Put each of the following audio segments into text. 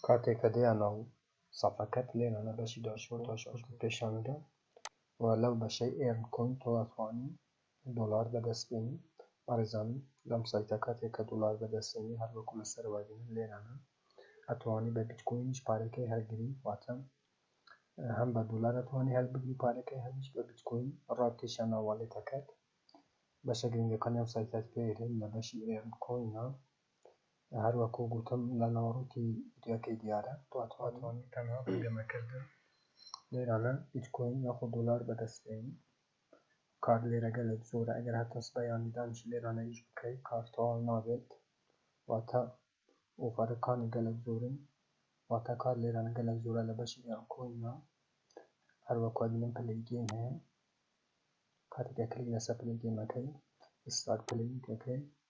کاتێ کە دەیانا و سەفەکەت لێ نانە بەشی داشبۆرد داشبۆردت پێشان ئەدا و لەو بەشەی ئێرن کۆین تۆ ئەتوانی دۆلار بەدەست بێنی بەڕێزان لەم سایتە کاتێ کە دۆلار بەدەست بێنی هەر وەکو لە سەرەوە بینن لێرانە ئەتوانی بە بیتکۆینیش پارەکەی هەلگری واتە هەم بە دۆلار ئەتوانی هەلبگری پارەکەی هەمیش بە بیتکۆین ڕابکێشە ناو والێتەکەت بەشە گرنگەکانی ئەم سایتەت پێ ئێرێن لە بەشی ئێرن کۆینە هەر وەکو گوتم لە ناوەڕۆکی ڤیدیۆکەی دیارە پلاتفۆرمی تەنها بۆ گەمەکردن لێرانە بیتکۆین یاخۆ دۆلار بەدەستبێنی کار لێرەگە لە زۆرە ئەگەر هەتەس بەیانیدانش لێرانە ئیش بکەی کار تەواو نابێت واتە ئۆفەرەکانی گەلە زۆرن واتە کار لێرانە گەلە زۆرە لە بەشی یان کۆینە هەروەکو بینم پلەی گەیم هەیە کاتێکە کلیک لەسەر پلەی گەیمەکەی ئیسلاک پلەی کەکەی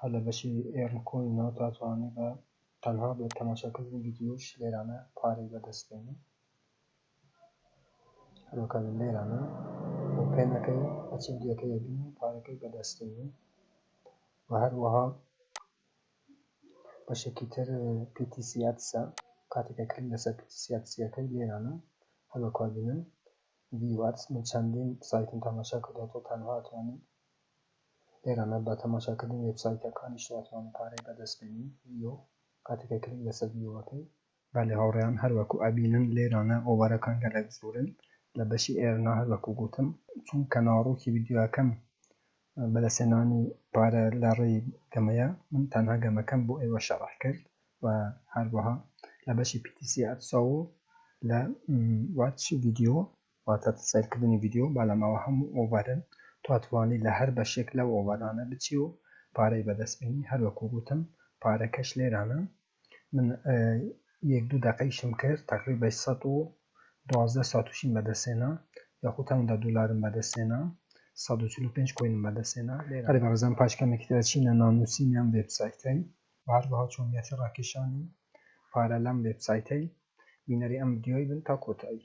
هەر لە بەشی ئێرن کۆینەوە تا توانێ بە تەنها بە تەماشاکردنی ڤیدیۆش لێرانە پارەی بەدەست بێنی هەروەکە لێرانە بۆ پێنەکەی ئەچی ڤیدیۆکەی بینی پارەکەی بەدەستێنی و هەروەها بەشێکی تر پیتیسیاتسە کاتێکە کلی لەسەر پیتیسیاتسیەکەی لێرانە هەروەکە بینن ڤیواتس من چەندین سایتم تەماشا کردەوە تۆ تەنها توانین ئێرانە با تەماشاکردنی وێبسایتەکانیش ناتوانن پارەی بەدەست بێنی ڤیۆ کاتێک کە کلیک لەسەر ڤیۆ ئەکەی. بەلی هاوڕێیان هەر وەکو ئەبینن لێرانە ئۆڤەرەکان گەلەک زۆرن لە بەشی ئێرنا هەر وەکو گۆتم چونکە ناڕوکی ڤیدیۆکەم بەدەست هێنانی پارە لە ڕێی گەمەیە من تەنها گەمەکەم بۆ ئێوە شەڕح کرد و هەروەها لە بەشی پیتیسی ئەتساو لە واتش ڤیدیۆ واتە سەیرکردنی ڤیدیۆ با لەمەوە هەموو ئۆڤەرن تۆ ئەتوانی لە هەر بەشێک لەو ئۆڤەرانە بچی و پارەی بەدەست بێنی هەر وەکو گوتم پارەکەش لێرانە من یەک دوو دەقەیشم کرد تقریبا سەد و دوازدە ساتوشیم بەدەستێنا یاخود هەمدا دولارم بەدەستێنا سەد و چل و پێنج کۆینم بەدەستێنا هەر بەڕێزان پاش کەمێکی تر چینە نانووسینی ئەم وێبسایتەی هەروەها چۆنیەتی ڕاکێشانی پارە لەم وێبسایتەی بینەری ئەم ڤیدیۆی بن تا کۆتایی.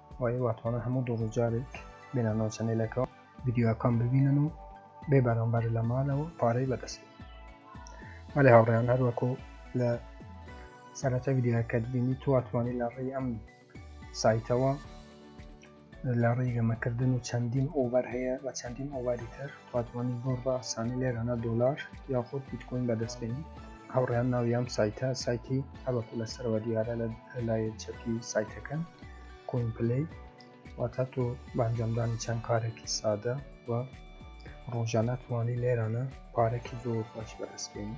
وای واتوانە هەموو دۆڕ جارێک بێنانەوە چەنێلەکەەوە ویددیوەکان ببینن و بێ بەرامبەر لە مالەوە پارەی بەدەست مەێ هاوڕێیان هەروەکو لە سەرەتا ویددیوەکەت بینی تواتوانانی لە ڕێی ئەم سایتەوە لە ڕێی گەمەکردن و چەندین ئۆڤەر هەیە بە چەندین ئۆواری تر واتوانی بەو ڕاسانە لێرانە دۆلار یاخود بیتکۆین بەدەست بێنی هاوڕیان ناوی ئەم سایتە سایتی هەبەکو لە سەرەوە دیارە لە لای چەپی سایتەکە کۆین پلی واتا تۆ بانجامدانی چەند کارێکی سادە و ڕۆژانە توانی لێرانە پارێکی زۆر باش بەدەست بێنی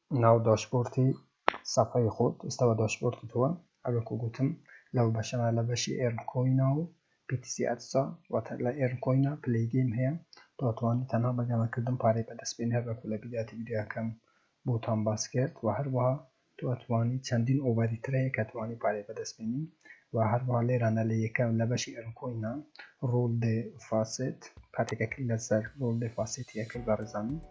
ناو داشبۆردی سەفحەی خۆت ئێستا بە داشبۆردی تۆوە هەر وەکو گوتم لەو بەشەدا لە بەشی ئێرن کۆینا و BTC ئەتسا واتە لە ئێرن کۆینا پلەی گەیم هەیە تۆ ئەتوانی تەنها بە گەمە کردن پارەی بەدەست بێنی هەر وەکو لە بیداتی ڤیدیۆیەکەم بۆتان باس کرد و هەروەها تۆ ئەتوانی چەندین ئۆڤەری تر هەیە کە توانی پارەی بەدەست بێنی و هەروەها لێرانە لە یەکەم لە بەشی ئێرن کۆینا ڕول دێ فاسێت کاتێکە کلیک لەسەر ڕول دێ فاسێتی ئەکەی بەڕێزان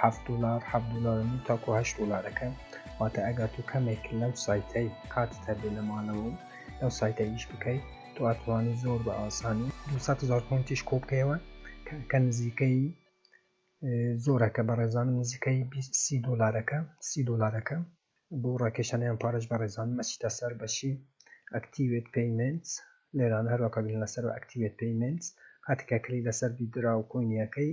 حەفت دولار حەفت دولار و نیو تاکو هەشت دولارەکە واتە ئەگەر تو کەمێک لەو سایتەی کاتت هەبێ لە ماڵەوە و لەو سایتە ئیش بکەی تو ئەتوانی زۆر بە ئاسانی دوو سەد هەزار پۆنتیش کۆ بکەیەوە کە نزیکەی زۆرەکە بەڕێزانم نزیکەی بیست سی دولارەکە سی دولارەکە بۆ ڕاکێشانیان پارەش بەڕێزان مەچیتە سەر بەشی ئەکتیوێت پەیمنت لێرانە هەروەکە بین لەسەر ئەکتیوێت پەیمنت کاتێکە کلی لەسەر بیت درا و کۆینیەکەی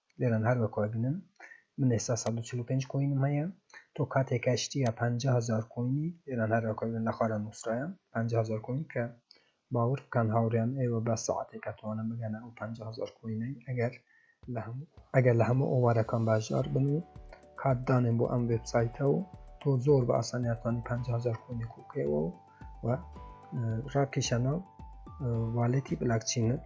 لێرەن هەر وەک ئەگنن من ئێستا سەد و چل و پێنج کۆینم هەیە تۆ کاتێک ئەشتیە پەنجا هەزار کۆینی لێرەن هەر وەک ئەگنن لە خوارە نوسرایە پەنجا هەزار کۆین کە باوەڕ بکەن هاوڕێیان ئێوە بە سەعاتێک ئەتوانن بگەنە ئەو پەنجا هەزار کۆینەی ئەگەر لە هەموو ئەگەر لە هەموو ئۆوارەکان باشدار بن و کات دانێن بۆ ئەم وێبسایتە و تۆ زۆر بە ئاسانی ئەتوانی پەنجا هەزار کۆینی کۆ بکەیەوە و ڕاکیشانە والێتی بلاکچینت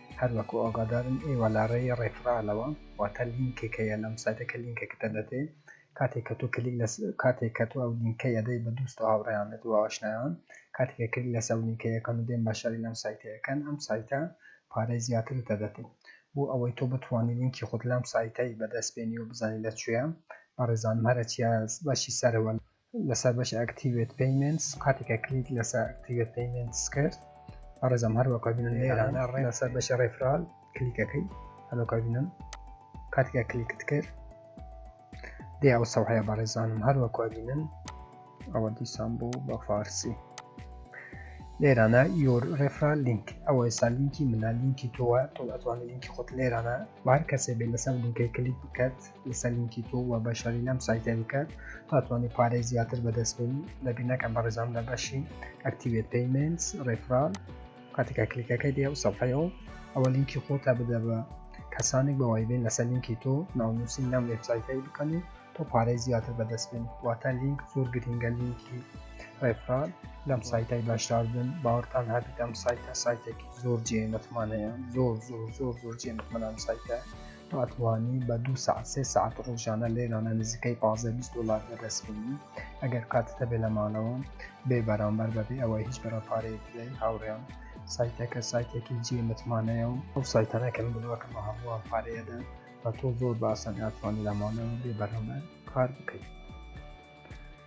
هەر وەکو ئاگادارن ئێوە لە ڕێی ڕێفرالەوە واتە لینکێک هەیە لەم سایتە کە لینکەکەتە دەدەی کاتێک کە تۆ کلیک لەس کاتێک کە تۆ ئەو لینکەی ئەدەی بە دوست و هاوڕێیانت و ئاشنایان کاتێک کە کلیک لەسەر ئەو لینکەی ئەکەن و دێن بەشداری لەم سایتە ئەکەن ئەم سایتە پارەی زیاترت دەدەتێ بۆ ئەوەی تۆ بتوانی لینکی خۆت لەم سایتەی بەدەست بێنی و بزانی لە کوێیە بەڕێزانم هەرەچیە بەشی سەرەوە لەسەر بەشی ئەکتیڤێت پەیمنتس قاتێکە کلیک لەسەر ئەکتیڤێت پەیمنتس کرد بەڕێزم هەر وەکە بینن لێرانە ڕێ لەسەر بەشی ڕێفرال کلیکەکەی هەلوکە بینن کاتێکە کلیکت کرد دێ ئەو سەوحەیە بەڕێزانم هەر وەکە بینن ئەوە دیسان بوو بە فارسی لێرانە یۆر ڕێفرال لینک ئەوە ئێستا لینکی منە لینکی تۆوە تۆ ئەتوانێت لینکی خۆت لێرانە بار کەسێ بێ لەسەر لینکەی کلیک بکات لەسەر لینکی تۆ و بەشاری لەم سایتە بکە تاتوانانی پارەی زیاتر بەدەستبێنی لەبی نەکەم بە ڕێزان لە بەشی ئەکتیوێت پەیمنس ڕێفرال کاتێکا کلیکەکەی دێ و سەفەیەوە ئەوە لینکی خۆتا بدە بە کەسانێک بەوای بێن لەسەر لینکی تۆ ناونووسی نام وێبسایتەی بکەن و تۆ پارەی زیاتر بەدەستبێن واتە لینک زۆر گرنگە لینکی ڕێفرال لەم سایتای باشدار بن باوەڕتان هەبیت ئەم سایتە سایتێکی زۆر جێ متمانەیە زۆر زۆر زۆر زۆر جێ متمەنام سایتە ئەتوانی بە دوو سەعات سێ سەعات ڕۆژانە لێرانە نزیکەی پازدە بیست دۆلار بەدەست بێنی ئەگەر کاتت هەبێ لە ماڵەوە بێ بەرامبەر بەبێ ئەوەی هیچ بەرە پارەیەک بدەی هاوڕێیان سایتەکە سایتێکی جێ متمانەیە و ئەو سایتانە کە من بڵاکەمە هەمووان پارەیەدەن بە تۆ زۆر باسەن ئەتوانی لە ماڵەوە بێ بەرامبەر کار بکەیت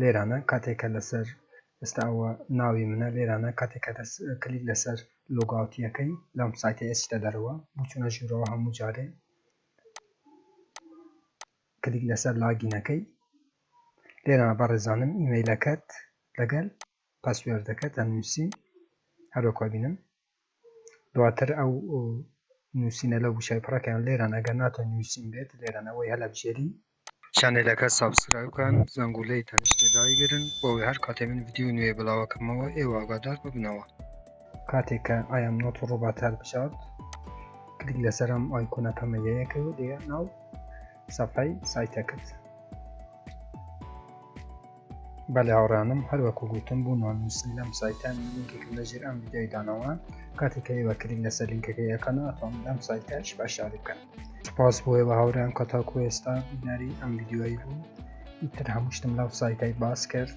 لێرانە کاتێک کە لەسەر ئێستا ئەوە ناوی منە لێرانە کاتێک کە دەست کلیک لەسەر لۆگاوتیەکەی لەم سایتە ئێستا دەرەوە بچونە ژوورەوە هەموو جارێ کلیک لەسەر لاگینەکەی لێرانە بەڕێزانم ئیمەیلەکەت لەگەل پاسوێردەکە دەنووسین هەروەکوە بینم دواتر ئەو نوسینە لەو وشەی پڕەکەیان لێران ئەگەر ناتۆ نووسین بێت لێران ئەوەی هەلەبژێری چەنێلەکە سابسکرایب کەن زەنگولەی تەنیشتێ دایگرن بۆوەی هەر کاتێ من ڤیدیۆی نوێ بڵاوەکەمەوە ئێوە ئاگادار ببنەوە. کاتێک کە ئایەم نۆت ڕوبات هەلبژارد کلیک لەسەر ئەم ئایکۆنە پەمەییەکەی و دێ ناو سەفحەی سایتەکەت. بەلێ هاوڕیانم هەر وەکو گوتم بوو نۆنووسن لەم سایتە من لینکێکم لە ژێر ئەم ویدیۆی دانەوە کاتێک کە ئێوە کلیک لەسەر لینکەکەی ئەکەن ئەتوان لەم سایتەش بەشداری بکەن سپاس بۆ ئێوە هاوریان کە تاکو ئێستا بینەری ئەم ویدیۆی بوو ئیتر هەموو شتم لەو سایتای باس کرد